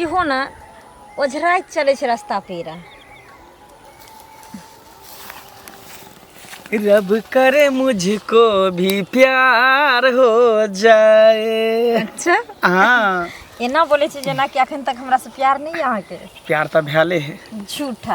इहो ने ओझराइत चलै छै रास्ता पेरा रब करे मुझको भी प्यार हो जाए अच्छा हाँ एना बोले छी जेना कि अखन तक हमरा से प्यार नहीं है अहाँ के प्यार तो भैले है झूठा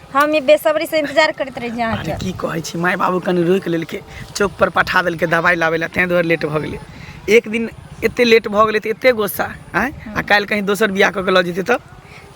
हम ई बेसब्री से इंतजार करैत रही अरे अहाँके की कहै छी माय बाबू कनि रोकि लेलकै चौक पर पठा देलकै दवाइ लाबै लए तेँ दुआरे लेट भऽ गेलै एक दिन एते लेट भऽ गेलै तऽ एते गोस्सा आँय आ काल्हि कहीं दोसर बियाह कऽ के लऽ जेतै तऽ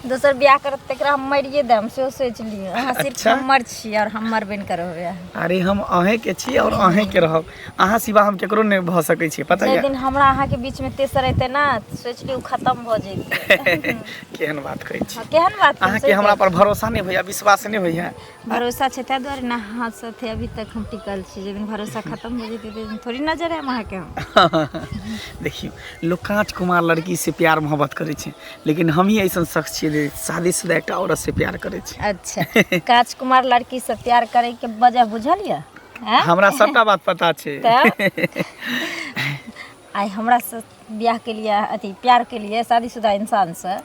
दोसर बियाह करत तकरा हम मरिए देम सेहो सोचि लिअ अहाँ सिर्फ अच्छा। हमर छी आओर हमर बनि कऽ रहबै अहाँ अरे हम अहेंके छी आओर अहेंके रहब अहाँ सिवा हम केकरो नहि भऽ सकै छी पता जाहि यऽ दिन हमरा अहाँके बीचमे तेसर एतै ने सोचि लियौ खतम भऽ जैतै केहन बात कहै छी हँ, केहन बात छै, अहाँके सोचि हमरा पर भरोसा नहि होइए विश्वास नहि होइए भरोसा छै ताहि दुआरे ने अहाँ साथे अभी तक हम टिकल छी जाहि दिन भरोसा खतम हो जेतै ताहि दिन थोड़ी नजर आयब अहाँके हम देखियौ लोक काँच कुमार लड़की से प्यार मोहब्बत करै छै लेकिन हम ही ऐसन शख्स छियै जे शादीशुदा एकटा औरत से प्यार करै छै अच्छा काज कुमार लड़की से प्यार करे के वजह बुझल यऽ हैं? हमरा सबटा बात पता छै तऽ आइ हमरा से बियाह के लिए अथी प्यार के लिए शादीशुदा इंसान से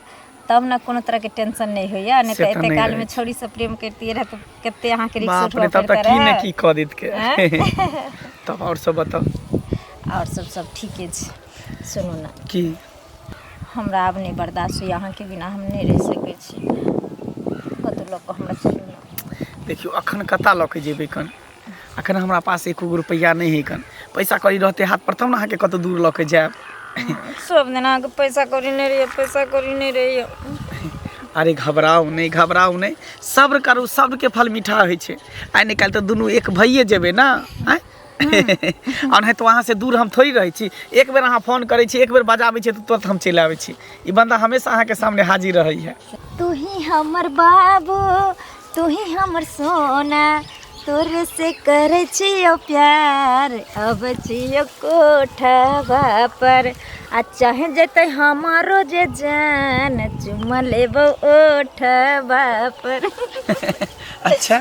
तब ने कोनो तरह के टेंशन नहीं होइया नहीं से तो तऽ एते नहि काल रहै में छै। छोरी से प्रेम करती रहे तो कते यहाँ के रिक्स बाप उठवा रे तब पड़ता तऽ की ने रहे की कऽ देत के हैं? तब आओर सब बताउ और सब सब ठीके छै सुनू ना की हमरा आब नहि बर्दास्त होइए अहाँके बिना हम नहि रहि सकय छी कतहु लअ कऽ हमरा चलू ने देखियौ एखन कतऽ लअ कऽ जेबय कन एखन हमरा पास एको गो रुपैआ नहि हइ कन पैसा कौड़ी रहतय हाथपर तब ने अहाँके कतहु दूर लअ कऽ जायब सब दिन अहाँके पैसा कौड़ी नहि रहैये पैसा कौड़ी नहि रहैये अरे घबराउ नहि घबराउ नहि सब्र करू सब्रके फल मीठा होइ छै आइ नहि काल्हि तऽ दुनू एक भइए जेबै ने आँय आ नहि तो अहाँ से दूर हम थोड़ी रहै छी एक बेर अहाँ फोन करै छी एक बेर बजाबै छी तऽ तुरंत हम चलि आबै छी ई बंदा हमेशा अहाँके सामने हाजिर रहै है तू ही हमर बाबू तू ही हमर सोना तोर से करे छियो प्यार अब छियो कोठवा पर आ चाहे जते हमारो जे जान चुमा लेबो ओठवा पर अच्छा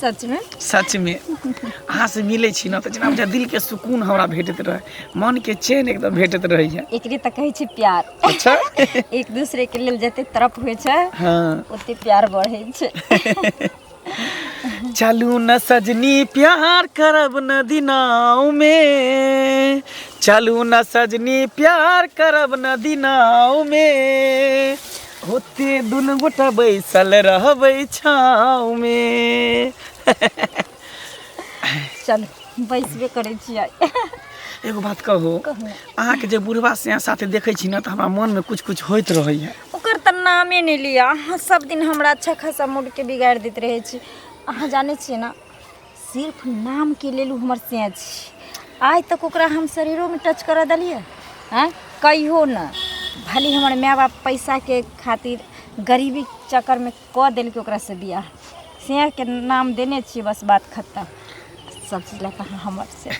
सच में सच में अहाँ से मिले छी ना तो जेना बुझा दिल के सुकून हमरा भेटत रहे मन के चैन एकदम भेटत रहे है एकरे तऽ कहै छै प्यार अच्छा एक दूसरे के लेल जते तरफ होइ छै हाँ ओते प्यार बढ़ै छै चलू न सजनी प्यार करब न दिनाओ में चलू न सजनी प्यार करब न दिनाओ में होते दुनू गोटा बैसल रहबै छाँव में चल बैसबे करै छियै एगो बात कहू कहू। अहाँके जे बुढ़वा से साथे देखै छी ने तऽ हमरा मोनमे कुछ कुछ होइत रहैया ओकर तऽ नामे नहि लिअ अहाँ सब दिन हमरा अच्छा खासा मूडके बिगाड़ि दैत रहै छी अहाँ जानै छियै ने सिर्फ नामके लेल ओ हमर सैं छी आइ तक ओकरा हम शरीरोमे टच करऽ देलियै आँय कहियो नहि भले हमर माय बाप पैसाके खातिर गरीबी चक्करमे कऽ देलकै ओकरासँ बियाह सैंके नाम देने छियै बस बात खतम सब चीज लऽ कऽ हमर से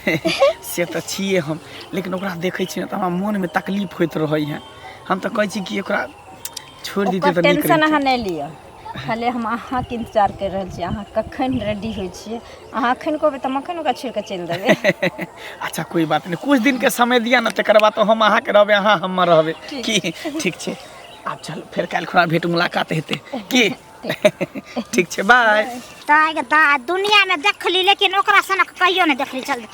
से तऽ छियै हम लेकिन ओकरा देखै छियै तऽ हमरा मोनमे तकलीफ होइत रहै है हम तऽ कहै छी कि ओकरा छोड़ि दितै तऽ नीक टेंशन अहाँ नहि लिअ खाली हम अहाँके इन्तजार करि रहल छी अहाँ कखन रेडी होइ छियै अहाँ एखन कहबै तऽ हम एखन ओकरा छोड़ि कऽ चलि देबै अच्छा कोई बात नहीं कुछ दिन के समय दिया ना तकर बाद तो हम अहाँ के रहबे अहाँ हम रहबे की ठीक छै आब चल फेर काल्हि खुना भेंट मुलाकात हेतै की ठीक छै बाय ताय के दा दुनिया में देखली लेकिन ओकरा सनक कहियो नहीं देखली चल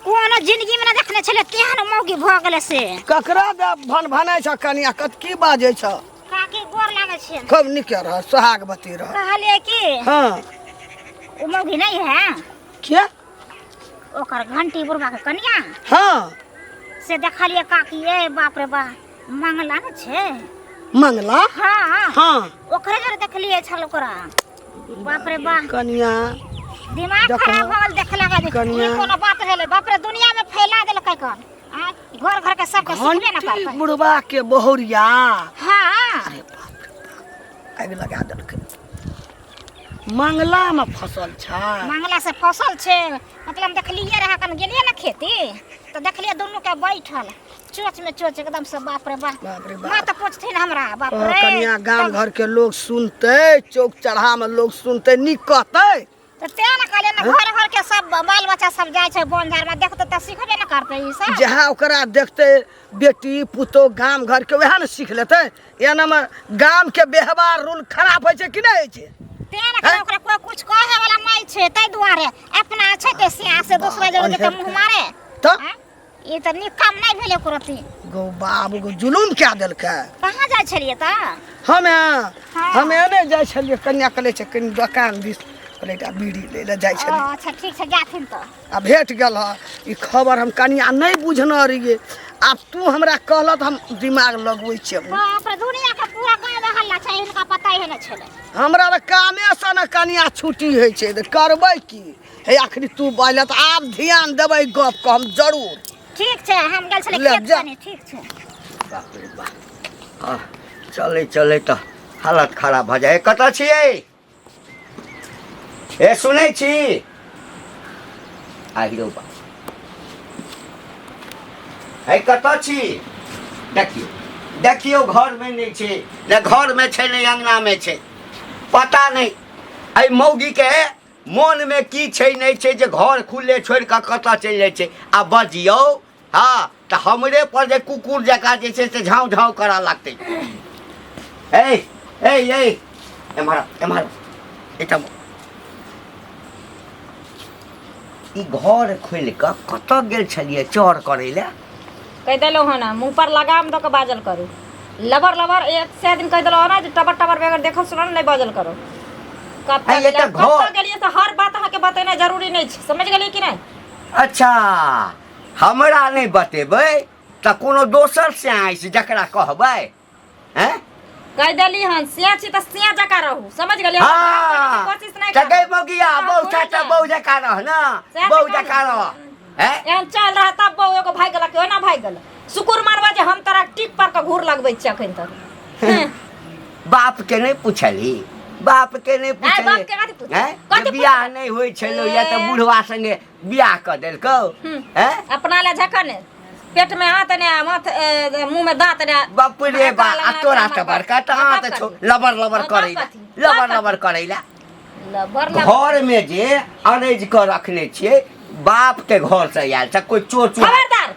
कोनो जिंदगी में ना देखने छले तेहन मौगी भऽ गेले से ककरा दे भन भनै छ कनिया कत की बाजै छ काकी गोर लागै छियै खूब नीक रह सोहागवती रह कहलियै कि हाँ ओ मौगी नहीं है क्या ओकर घंटी बुढ़वा के कनिया हाँ से देखलियै काकी ए बाप रे बा मंगला ने छै मंगला हाँ हाँ ओकरे जरे देखलियै छल ओकरा बाप रे बा कनिया दिमाग देखो। खराब हो गेल देखला के कनिया। ई कोनो बात भेलै बाप रे दुनिया में फैला देलकै कन आ, घर घर के सबके सुनबे ना घंटी करतै बुढ़वा के बहुरिया हाँ अरे बाप रे बाप, आगि लगा देलकै मंगला में फसल छै मंगला से फसल छै मतलब हम देखलिए रहा कन गेलिए ना खेती तो देखलिए दोनों के बैठल चोच में चोच एकदम से बाप रे बाप बाप रे बाप। माँ तो पूछथिन हमरा बाप कह रे कनिया गाम घर के लोग सुनते चौक चढ़ा में लोग सुनते नीक कहते तऽ तें ने कहलियै ने घर घर के सब बाल बच्चा सब जाइ छै बन झाड़ में देखते तऽ सिखबे ने करते ई सब जहाँ ओकरा देखते बेटी पुतोह गाम घर के वएह ने सीख लेते एना में गाम के व्यवहार रूल खराब होइ छै कि नहि होइ छै तें ने कहलियै ओकरा कोई कुछ कहे वाला नहीं छै ताहि दुआरे अपना छै ते सिया से दोसरा जगह के तऽ मुंह मारे तऽ आँय? ई तऽ नीक काम नहि भेलै एको रत्ती गौ बाबू गौ जुलूम कए देलकै कहाँ जाइ छलियै तऽ हमे हाँ। हमे नहि जाइ छलियै कन्या कले छै कनि दोकान दिस कहलियै एकटा बीड़ी लै लए जाइ ओ, छलियै अच्छा ठीक छै जाथिन तऽ आ भेट गेल ह ई खबर हम कनिया नहि बुझने रहियै आब तू हमरा कहलह तऽ हम दिमाग लगबै छियै हँ अपना दुनिया के पूरा गाँव में हल्ला छै इनका पता ही नहि छलै हमरा तऽ कामेसँ ने कनिया छुट्टी होइ छै तऽ करबै की हे आखिरी तू बाइल त आब ध्यान देबै गप क हम जरूर ठीक छै हम गेल छलै ले खेत जा। कने ठीक छै बाप रे बाप आ चले चले त हालत खराब भ जाए कतऽ छियै ए सुनै छी आहिरो बाप है कतऽ छी देखियौ देखियौ घरमे नहि छै ने घरमे छै ने अङ्गनामे छै पता नहि एहि मौगीके मोनमे की छै नहि छै जे घर खुलले छोड़ि कऽ कतऽ चलि जाइ छै आ बजियौ हँ तऽ हमरे पर जे कुकुर जकाँ जे छै से झाँव झाँव करऽ लगतै ए ए ए एम्हर एम्हर एहिठाम ई घर खोलि कऽ कतऽ गेल छलियै चोर करै लए कहि देलहुँ हँ ने मुँह पर लगाम दऽ कऽ बाजल करू लबर लबर एक सए दिन कहि देलहुँ हँ ने जे टबर टबर बेगर देखल सुनल नहि बाजल करू कतऽ आइ एतऽ गेलियै घर- कतऽ गेलियै से हर बात अहाँके बतेनाइ जरूरी नहि छै समझ गेलियै कि नहि अच्छा हमरा नहि बतेबै तऽ कोनो दोसर से आइस जकरा कहबै हैं कह देली हन सिया छी त सिया जका रहू समझ गेलिए हाँ कोशिश नहीं कर चकै बौगिया बौ चाचा बौ जका रह ना सएह बौ तऽ जका कहलहुँ। रह हैं एहन चल रहा तब बौ एगो भाग गेला कि ओना भाग गेल सुकुर मारवा जे हम तोरा टिक पर के घूर लगबै छी अखन तक हैं। बाप के नहीं पूछली बाप के नहीं बाप के कथी पूछली पूछली? हैं कथी जब बियाह पूछली? नहीं होई छलो या त ए। बुढ़वा संगे बियाह कऽ देलकौ हैं अपना ले झकन पेट में हाथ ने माथ ए, मुंह में दांत ने बाप रे बा आ तोरा से बड़का तऽ हां तऽ छौ लबर लबर करै ला लबर लबर करै ला लबर लबर घर में जे अरेज कऽ रखने छियै बाप के घर से आयल छ कोई चोर चोर खबरदार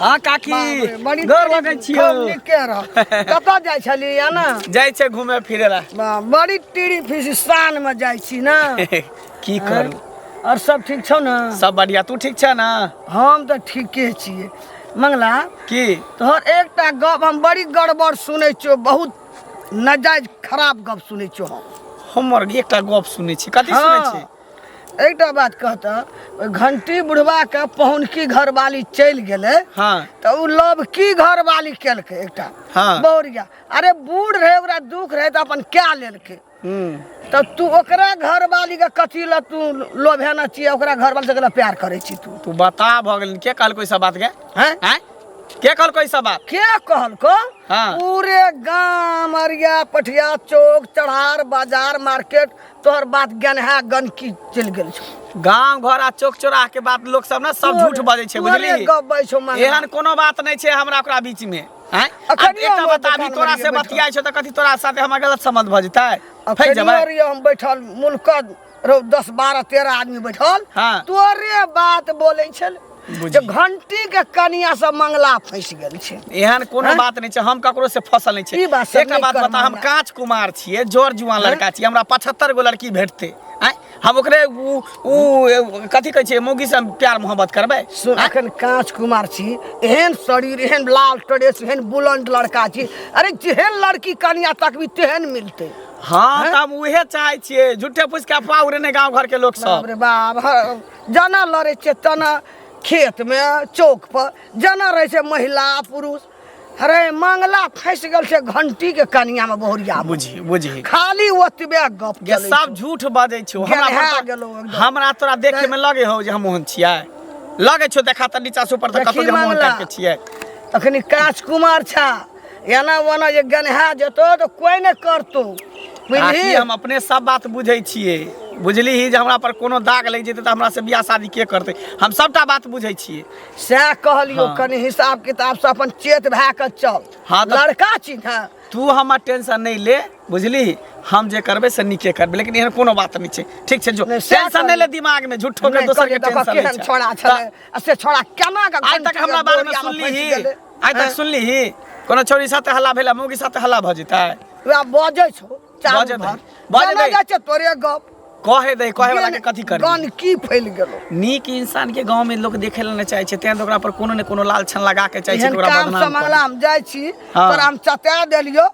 हाँ काकी गोर लगै छियो के रह कतऽ जाइ छली या ना जाइ छै घूमे फिरे ला वाह, बड़ी टीरी फिजिस्तान में जाइ छी ना की करू और सब ठीक छौ ना सब बढ़िया तू ठीक छै ना हम तऽ ठीके छियै मंगला की तोहर एकटा गप हम बड़ी गड़बड़ सुनै छियो बहुत नजायज खराब गप सुनै छियो हम हमर एकटा गप सुनै छी कथी सुनै छी हाँ, एकटा बात कहता ओहि घंटी बुढ़वा के पहुनकी घरवाली चलि गेलै हाँ तऽ ओ लव की घरवाली केलकै एकटा हाँ। बौरिया अरे बूढ़ रहे ओकरा दुख रहे तऽ अपन कए लेलकै हम्म, तऽ तू ओकरा घरवाली के कथी लए तू लोभेना छियै ओकरा घरवाली से केना प्यार करै छी तू तू बता भऽ गेल के कहलको ई सब बात के हैं हैं के कहलको ई सब बात के कहलको हाँ। पूरे गांव अरिया पठिया चौक चढ़ार बाजार मार्केट तोहर बात ज्ञान है गंदकी चल गेल छौ गांव घर आ चौक चौराह के बात लोग सब ना सब झूठ बजे छै बुझली गबै छौ मां एहन कोनो बात नै छै हमरा ओकरा बीच में हैं अखन एकटा बता भी तोरा से बतियाय छौ त कथि तोरा साथे हमरा गलत संबंध भ जेतै फै जबै अरे हम बैठल मुल्क रौ 10 12 13 आदमी बैठल हां तोरे बात बोलै छल जे घंटी के कनिया से मंगला फंस गेल छै एहन कोनो बात नहि छै हम ककरो से फसल नहि छै बात एकटा बात बता हम कांच कुमार छियै जोर जुआन लड़का छियै हमरा 75 गो लड़की भेटते आय हम ओकरे उ उ कथि कहै छै मौगी से प्यार मोहब्बत करबै सुन अखन कांच कुमार छी एहन शरीर एहन लाल ड्रेस एहन बुलंद लड़का छी अरे जेहन लड़की कनिया तकबी तेहन मिलते हाँ हम उहे चाहे छियै झूठे पूछ के अफवाह उड़ेने गांव घर के लोग सब बाप रे बाप जेना लड़ै छियै तेना खेतमे चौकपर जेना रहै छै महिला पुरुष अरे मंगला फँसि गेल छै घंटीके कनियामे बहुरिया बुझी बुझी खाली ओतबे गप ये चलै सब छै। झूठ बजै छौ हमरा गेलहा पर तऽ- गेलौ एकदम। हमरा तोरा देखे में लगे हौ जे हम ओहन छियै लगे छौ देखा तऽ नीचा से ऊपर तक देखी कतौ जे हम ओहन मंगला। टाइप के छियै तखनी काज कुमार छा एना ओना जे गनहा जेतौ तऽ कोइ नहि करतौ आखिर बुझली हम अपने सब बात बुझै छियै बुझली ही जे हमरा पर कोनो दाग लागि जेतै तऽ हमरा से बियाह शादी के करतै हम सबटा बात बुझै छियै सएह कहलियौ हाँ। कनि हिसाब किताब से अपन चेत भए कऽ चल हाँ तऽ- लड़का छी ने तू हमर टेंशन नहि ले बुझली हम जे करबै से नीके करबै लेकिन एहन कोनो बात नहि छै ठीक छै जो नहि, सएह टेंशन कहलियै। नहि ले दिमाग में झूठो के नहि दोसर के करियै, देखऽ टेंशन केहन नहि छै छोड़ा तऽ- छलै आ से छोड़ा केना कऽ आइ तक घंटी हमरा के बारे में बोरिया सुनली फँसि ही गेलै। आइ तक सुनली ही कोनो छोरी साथ हल्ला भेला मुँह के साथ हल्ला भऽ जेतै वएह बजै छौ चारू बजै भाग। दही, बजै जेना दही। जाइ छै तोरे गप कहे दे कहे वाला के कथी कर गन की फैल गेलो नीक इंसान के गांव में लोग देखे ला न चाहे छै तें ओकरा पर कोनो ने कोनो लाल छन लगा के चाहे छै एहन कि ओकरा काम बदनाम समहला करे। हम जाइ छी हाँ। तोरा हम चटा देलियो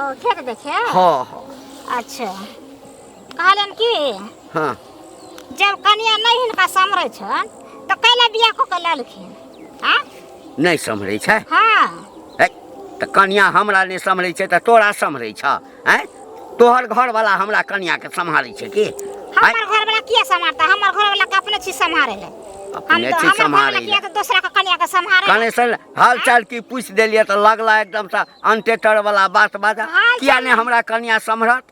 ओ खेत देखे हाँ हाँ अच्छा कहलन कि हाँ जब कनिया नहीं हिनका समरे छन तो कैला बियाह को के ललखिन हाँ नहीं सम्हरे छै हाँ है तो कनिया हमरा नहीं सम्हरे छै तो तोरा सम्हरे छ हैं तोहर घर वाला हमरा कनिया के सम्हारे छै की हैं? हमर घर वाला किया संभालता हमर घर वाला के अपने चीज संभाले ले हम अपने तो चीज हमर घर वाला सम्हारे किया ले। तो दूसरा के कनिया के संभाले ले। कने से हाल चाल की पूछ दिलियै तऽ लगला एकदम से अनटेटर वाला बात बाजा किया ने हमरा कनिया सम्हरत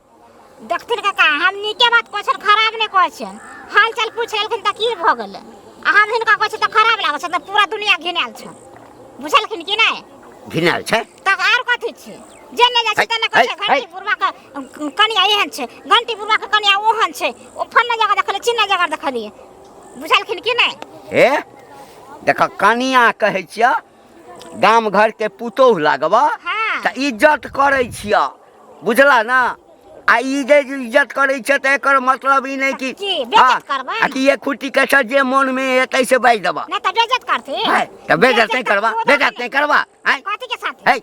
देखथिन काका हम नीके बात कहै छियनि खराब नहि कहै छियनि हाल चाल पूछ लेलखिन तऽ की भऽ गेलै आ हम हिनका कहै छियनि तऽ खराब लागै छै तऽ पूरा दुनिया घिनायल छै बुझलखिन कि नहि घिनायल छै तऽ आर कथी छै जे नहि जाइ छै तेने कहै छै घंटी बुढ़वा के कनिया एहन छै घंटी बुढ़वा के कनिया ओहन छै ओ फन्ना जगह देखलियै चिन्ना जगह देखलियै बुझलखिन कि नहि हे देख कनिया कहै छिय गाम घर के पुतोहु लागब हँ। तऽ इज्जत करै छिय बुझला ने आ ई जे इज्जत करै छै तऽ एकर मतलब ई नहि कि की, बेइज्जत हँ, करबै? आ कि ये खुट्टी के सर जे मोन में एतै से बाजि देबह नहि तऽ बेइज्जत करथिन है तऽ बेजत नहि करबा करबो बेजत नहि करबा है कथी के साथ है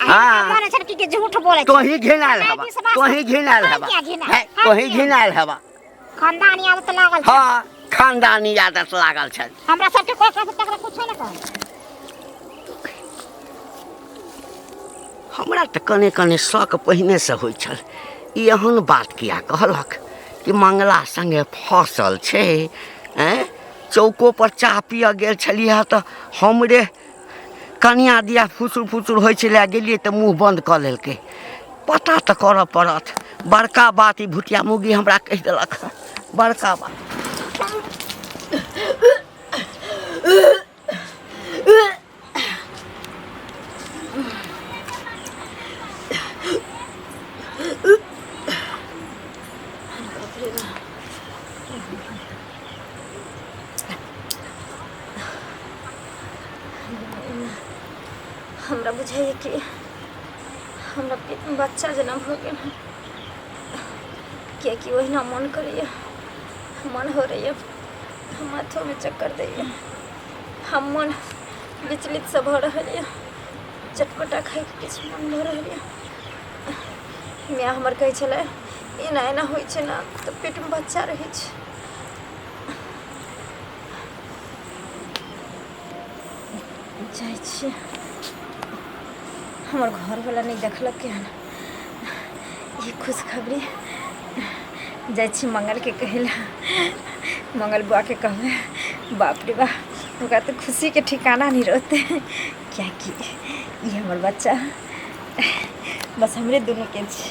हाँ। हाँ मन छन की के झूठ बोले तो ही घिनाल हवा तो ही घिनाल हवा क्या घिनाल? हैं, तो ही घिनाल हवा खानदानी आदत लागल छै। हाँ खानदानी आदत लागल छै हमरा सबके कोई कह तकरा कुछ ना कह हमरा तऽ कने कने शक पहिने से होइ छल ई एहन बात किया कहलक कि मंगला संगे फसल छै हैं चौको पर चाह पिय गेल छलियै तऽ हमरे कनिया दिया फुसुर फुसुर होइ छलै गेलियै तऽ मुँह बन्द कऽ लेलकै पता तऽ करऽ पड़त बड़का बात ई भुटिया मुगी हमरा कहि देलक बड़का बात हमरा बुझाइए कि हमरा पे- बच्चा जेना भऽ गेल हँ किएकि ओहिना मन करैए मन हो रहैए हम माथोमे चक्कर दैए हम मन विचलित से भऽ रहल यए चटपटा खाइके किछु मन भऽ रहल यए माय हमर कहै छलै एना एना होइ छै ने तऽ पेटमे बच्चा रहै छै जाइ छियै हमर घरवला नहि देखलकै हन ई खुशखबरी जाइ छी मंगलके कहै लए मंगल बुआके कहबै बाप रे बा ओकरा तऽ खुशीके ठिकाना नहि रहतै किएकि ई हमर बच्चा बस हमरे दुनूके छै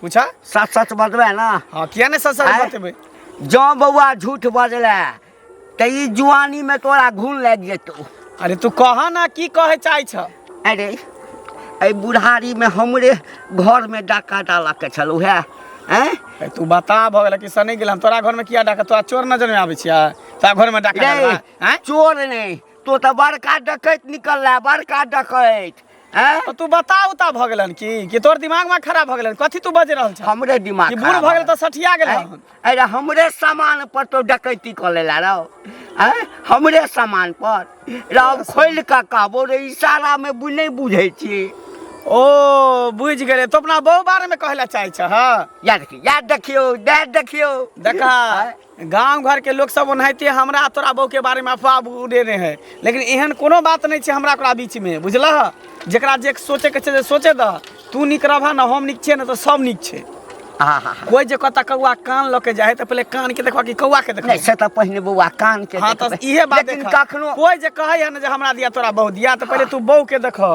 पूछा सच सच बतबे ना हाँ किया नहीं सच सच आय? बतेबे जँ बौआ झूठ बजले तऽ ई जुआनी में तोरा घून लागि जेतौ अरे तू कह ना की कहे चाहे छ अरे एहि बुढ़ारी में हमरे घर में डाका डाला के छल उहे हैं ए, तू बता भऽ गेल कि सने गेल हम तोरा घर में किया डाका तोरा चोर नजर में आबै छिया तोरा घर में डाका रे, डालबा, आँय? चोर नहीं तो तऽ बड़का डकैत निकल रहा बड़का डकैत हैं? तो तू बता उता भऽ गेलन की कि तोर दिमाग में खराब भऽ गेलन कथी तू बज रहल छ हमरे दिमाग कि बूढ़ खराब भऽ गेल भऽ त सठिया गेल हैं? अरे हमरे सामान पर तो डकैती कर लेला रहो हैं? हमरे सामान पर रहो खोल का कहबो रे इशारा में बु नहीं बुझे छी ओ बुझ गेले तो अपना बहु बारे में कहला चाहे छ हां याद रखियो याद रखियो याद रखियो देखा हैं? गाँव घरके लोकसभ ओनाहिते हमरा तोरा बौके बारेमे अफवाह उड़ेने है लेकिन एहन कोनो बात नहि छै हमरा ओकरा बीचमे बुझलह जकरा जे सोचैके छै से सोचे दह तू नीक रहबह ने हम नीक छियै ने तऽ सभ नीक छै कोइ जे कतऽ कौआ कान लऽ के जाइ है तऽ पहिले कानके देखबह कि कौआके देखबह नहि से तऽ पहिने बौआ कान के हँ तऽ देखबै। इहे बात लेकिन देखा कखनो कोइ जे कहै है ने जे हमरा दिया तोरा बहु दिया तऽ पहिले तू बहू के देखह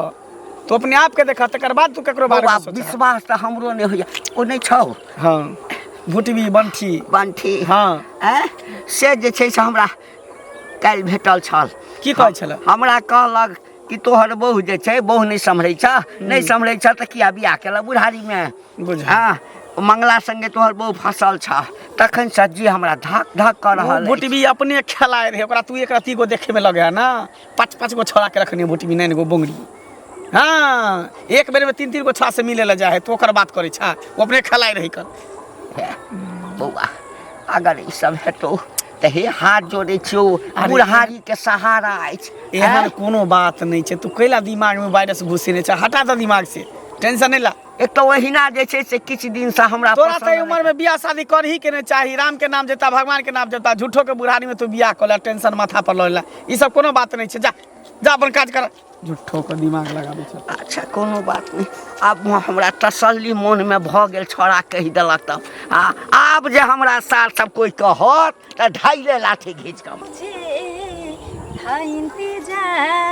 तू अपने आप के देखा तकर बाद तू केकरो बारे बौआ में सोच विश्वास तऽ हमरो नहि होइए ओ नहि छौ हां भुटबी बंठी बंठी हां ऐं? से जे छै से हमरा काल्हि भेटल छल की कहै छले हमरा कहलक कि तोहर बहू जे छै बहू नहि सम्हरै छ नहि सम्हरै छ तऽ किया बियाह केलक बुढ़ारीमे बुझल। हँ मंगला संगे तोहर बहू फंसल छ तखन सज्जी हमरा धक धक कऽ रहल अछि। भुटबी अपने खेलाय रहे ओकरा तू एक रत्ती गो देखे में लगे है ना पाँच पाँच गो छोड़ा के रखने बोटी में नैन गो बोंगरी हाँ एक बेर में तीन तीन गो छोड़ा से मिले ला जा है तो ओकर बात करे छा वो अपने खलाए रही कर हे, बौआ अगर ई सब हेतौ तऽ हे हाथ जोड़ै छियौ अरे, बुढ़ारी के सहारा अछि एहन कोनो बात नहीं है तू कैला दिमाग में वायरस घुसेने छा हटा दे दिमाग से टेंशन नहीं ला एक तो ओहिना जे छै से किछु दिन से हमरा तोरा पसंद सही उम्र नहि। में बियाह शादी करही के नहीं चाही राम के नाम जता भगवान के नाम जता झूठो के बुढ़ारी में तू बियाह कर ले टेंशन माथा पर लइला ई सब कोनो बात नहीं छै जा जा अपन काज कर झूठो के दिमाग लगाबै छै अच्छा कोनो बात नहीं आब हमरा तसल्ली मन में भ गेल छोड़ा कहि देलक तब आ आब जे हमरा सार सब कोई कहत त ढाइले लाठी घींच कम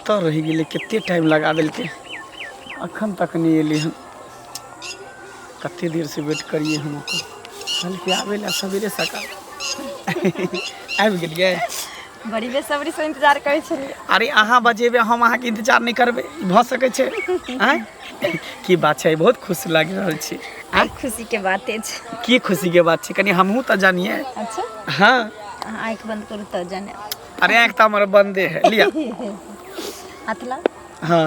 तो रह गए कते टाइम लगा दिल के अखन तक नहीं एली हम कते देर से वेट करिए हम ओकर कल के आवे ला सवेरे सकाल आबि गेलिए बड़ी बेसब्री से इंतजार करे छलिए अरे अहाँ बजेबे हम अहाँ के इंतजार नहीं करबे भ सके छे आँय? की बात छै बहुत खुश लागि रहल छी आइ खुशी के बाते छै की खुशी के बात छै कनी हमहूँ तऽ जानिए अच्छा हँ अहाँ आँखि बंद करू तऽ जाने अरे आँख तऽ हमर बंदे है लिया हाथ लाउ हँ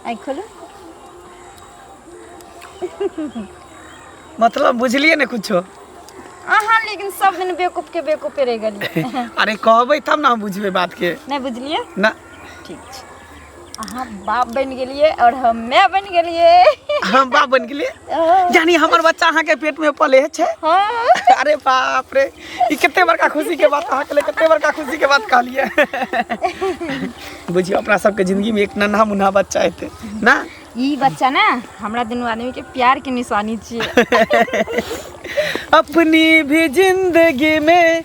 आँखि खोलू मतलब बुझलिए ने कुछो अहाँ लेकिन सब दिन बेवकूफ के बेवकूफे रह गेलिए अरे कहबै तब ने हम बुझबै बात के नहि बुझलिए ना ठीक छै अहाँ बाप बनि गेलियै और हम माय बनि गेलियै हम बाप बनि गेलियै यानी हमर बच्चा अहाँके पेट में पले छै हाँ। अरे बाप रे ई कते बड़का खुशी के बात अहाँके लिए कते बड़का खुशी के बात कहलियै बुझियो अपना सबके जिंदगी में एक नन्हा मुन्हा बच्चा एते ना ई बच्चा ना हमरा दुनू आदमी के प्यार के निशानी छियै अपनी भी जिंदगी में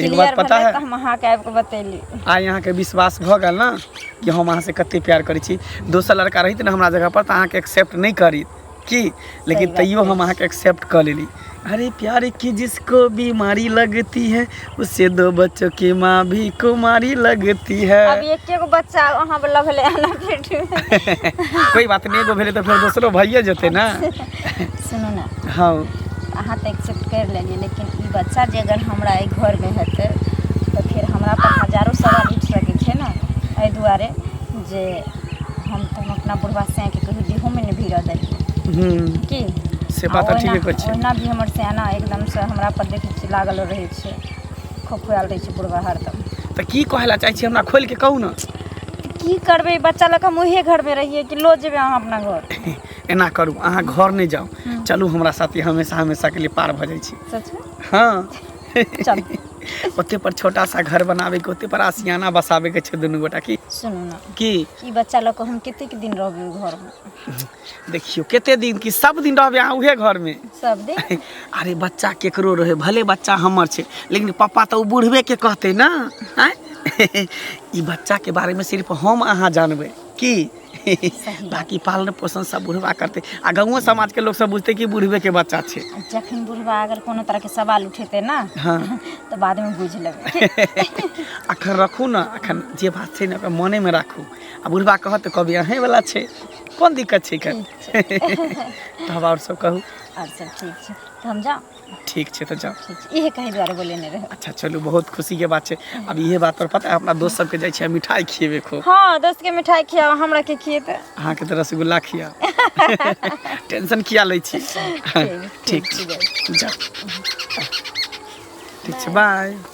एक बात पता है हम अहाँ के आबि के बतेली आइ अहाँ के विश्वास भ गेल ना कि हम अहाँ से कते प्यार करै छी दोसर लड़का रहित ना हमरा जगह पर त अहाँ के एक्सेप्ट नहीं करी की लेकिन तैयो हम अहाँ के एक्सेप्ट कर लेली अरे प्यार की जिसको बीमारी लगती है उससे दो बच्चों की माँ भी कुमारी लगती है अब एक एक बच्चा अहाँ लग ले आना पेट में कोई बात नहीं एगो भेले तो फिर दूसरो भइए जते ना सुनू ने हँ अहाँ तऽ एक्सेप्ट करि लेलियै लेकिन ई बच्चा जे अगर हमरा एहि घरमे हेतै तऽ फेर हमरा पर हजारो सवाल उठि सकै छै ने एहि दुआरे जे हम तऽ हम अपना बुढ़वा सैँके कहियो देहोमे नहि भीड़ऽ देलियै हूँ की से आ बात तऽ ओहिना- ठीके कहै छियै। ओहिना भी हमर सैना एकदमसँ हमरा पर देखै छियै लागल रहै छै खोखुआल रहै छै बुढ़वा हरदम तऽ की कहै लए चाहै छी हमरा खोलि कऽ कहू ने की करबै बच्चा लऽ कऽ हम उहे घरमे रहियै कि लो जेबै अहाँ अपना घर एना करू अहाँ घर नहि जाउ हम्म। चलू हमरा साथे हमेशा हमेशा के लिए पार भऽ जाइ छी सच में हँ चल ओते पर छोटा सा घर बनाबे के ओते पर आसियाना बसाबे के छै दुनू गोटा की सुनू ना की ई बच्चा लऽ कऽ हम कतेक दिन रहबै ओहि घरमे देखियो कते दिन की सब दिन रहबे अहाँ उहे घर में सब दिन अरे बच्चा केकरो रहे भले बच्चा हमर छै लेकिन पापा तऽ ओ बुढ़बे के कहते ना आँय? ई बच्चा के बारे में सिर्फ हम अहाँ जानबै की बाकी पालन पोषण सब बुढ़बा करतै आ गाँवो समाजके लोक सब बुझतै कि बुढ़बेके बच्चा छै जखन बुढ़बा अगर कोनो तरहके सवाल उठेतै ने हँ तऽ बादमे बुझि लेबै अखन रखू ने अखन जे बात छै ने ओकरा मोनेमे राखू आ बुढ़बा कहत तऽ कहबै अहेँवला छै कोन दिक्कत छै तब आओर सब कहू आओर सब ठीक छै तऽ हम जाउ ठीक छै तऽ जाउ ठीक छै इहे कहै दुआरे बोलेने रहै अच्छा चलू बहुत खुशीके बात छै अब इहे बात पर पता है अपना दोस्त सबके जाइ छियै मिठाइ खिएबै खूब हँ दोस्त के मिठाई खियाओ हमरा के खिएते अहाँके तऽ रसगुल्ला खिया टेंशन किया लै छी ठीक छै जाउ ठीक छै बाय